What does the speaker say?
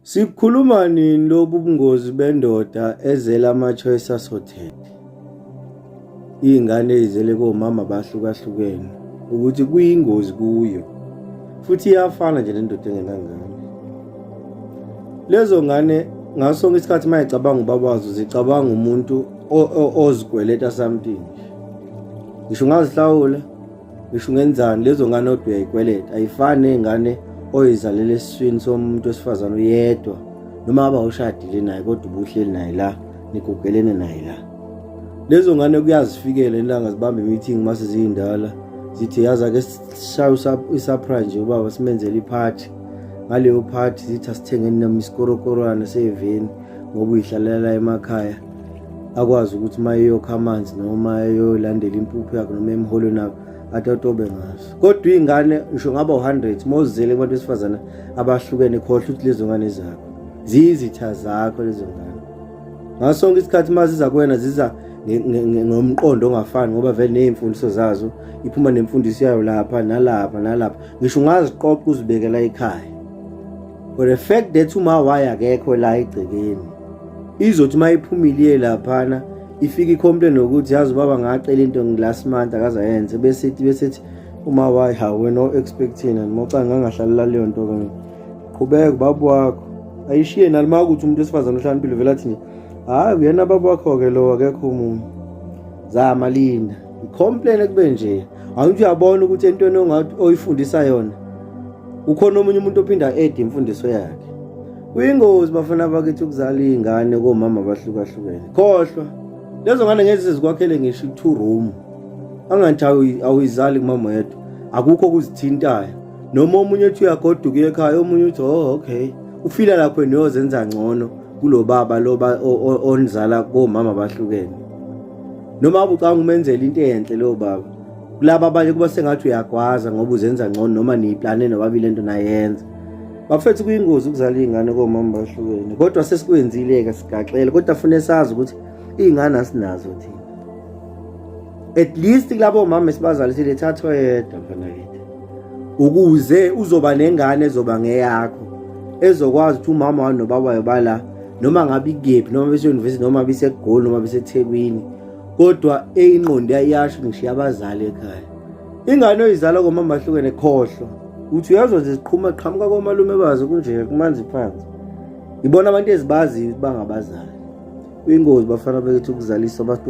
Sikhuluma nini lobu bungozi bendoda ezela ama-choice asothete iy'ngane ey'zele komama bahlukahlukene ukuthi kuyingozi kuyo futhi iyafana nje nendoda engenangane lezo ngane ngaso sonke isikhathi uma icabanga ubaba wazo zicabanga umuntu ozikweleta something ngisho ungazihlawula ngisho ungenzani lezo ngane odwa uyayikweleta ayifani ney'ngane oyizalele esiswini somuntu wesifazane uyedwa noma ngaba ushadile naye kodwa ubuhleli naye la nigugelene naye la lezo ngane kuyazifikela ilanga zibambe imeeting mase ziyindala zithi yazi ake sishaye isaphra nje ubaba simenzele iphathi ngaleyo phathi zithi asithengeni noma isikorokorwana seveni ngoba uyihlalela emakhaya akwazi ukuthi uma eyokha amanzi noma eyolandela impuphu yakhe noma emholweni akhe atatobe ngaso kodwa iy'ngane ngisho ngaba u-hundred uma uzele kubantu besifazane abahlukene khohlwa ukuthi lezo ngane zakho ziyizitha zakho lezo ngane ngaso sonke isikhathi uma ziza kuwena ziza ngomqondo ongafani ngoba vele ney'mfundiso zazo iphuma nemfundiso yayo lapha nalapha nalapha ngisho ungaziqoqa uzibekela ekhaya for the fact that umawaye akekho la egcekeni izothi uma iphumile iye laphana ifike icomplain nokuthi yazi ubaba ngacela into ngilast month akaze ayenze bese ithi bese ithi uma wayi ha wena o-expectin and mocanga angahlalela leyo nto ke qhubeka ubaba wakho ayishiye nalima ukuthi umuntu wesifazane ohlanimpilo vele athi hhayi uyena baba wakho-ke lowo akekho umuntu zama linda ngicomplain kube nje awuthi uyabona ukuthi entweni ongathi oyifundisa yona ukhona omunye umuntu ophinda ede imfundiso yakhe kuyingozi bafana bakithi ukuzala iy'ngane komama abahlukahlukene khohlwa lezo ngane ngezi zikwakhele ngisho i-two room angathi awuyizali kumama yedwa akukho okuzithintayo noma omunye uthi uyagoduka ekhaya omunye uthi oh okay ufila lapho niyozenza ngcono kulo baba lo onizala komama bahlukene noma ubucanga umenzela into enhle lo baba kulaba abanye kuba sengathi uyagwaza ngoba uzenza ngcono noma niyiplane nobabili lento nayenza bafethu kuyingozi ukuzala izingane komama bahlukene kodwa sesikwenzile ke sigaxele kodwa fune sazi ukuthi izingane asinazo thina at least kulabo mama esibazalisile thathwe yedwa mfana kithi ukuze uzoba nengane ezoba ngeyakho ezokwazi ukuthi umama wani nobabayo bala noma ngabe ikephi noma beseyunivesithi noma besegoli noma besethekwini kodwa eyinqondo yayasho ngishiya abazali ekhaya ingane oyizala komama ahlukene khohlwa uthi uyazwa nje ziqhuma qhamuka komalume bazo kunje kumanzi phansi ngibona abantu ezibaziyo ukuthi bangabazali uyingozi bafana bekithi ukuzalisa abantu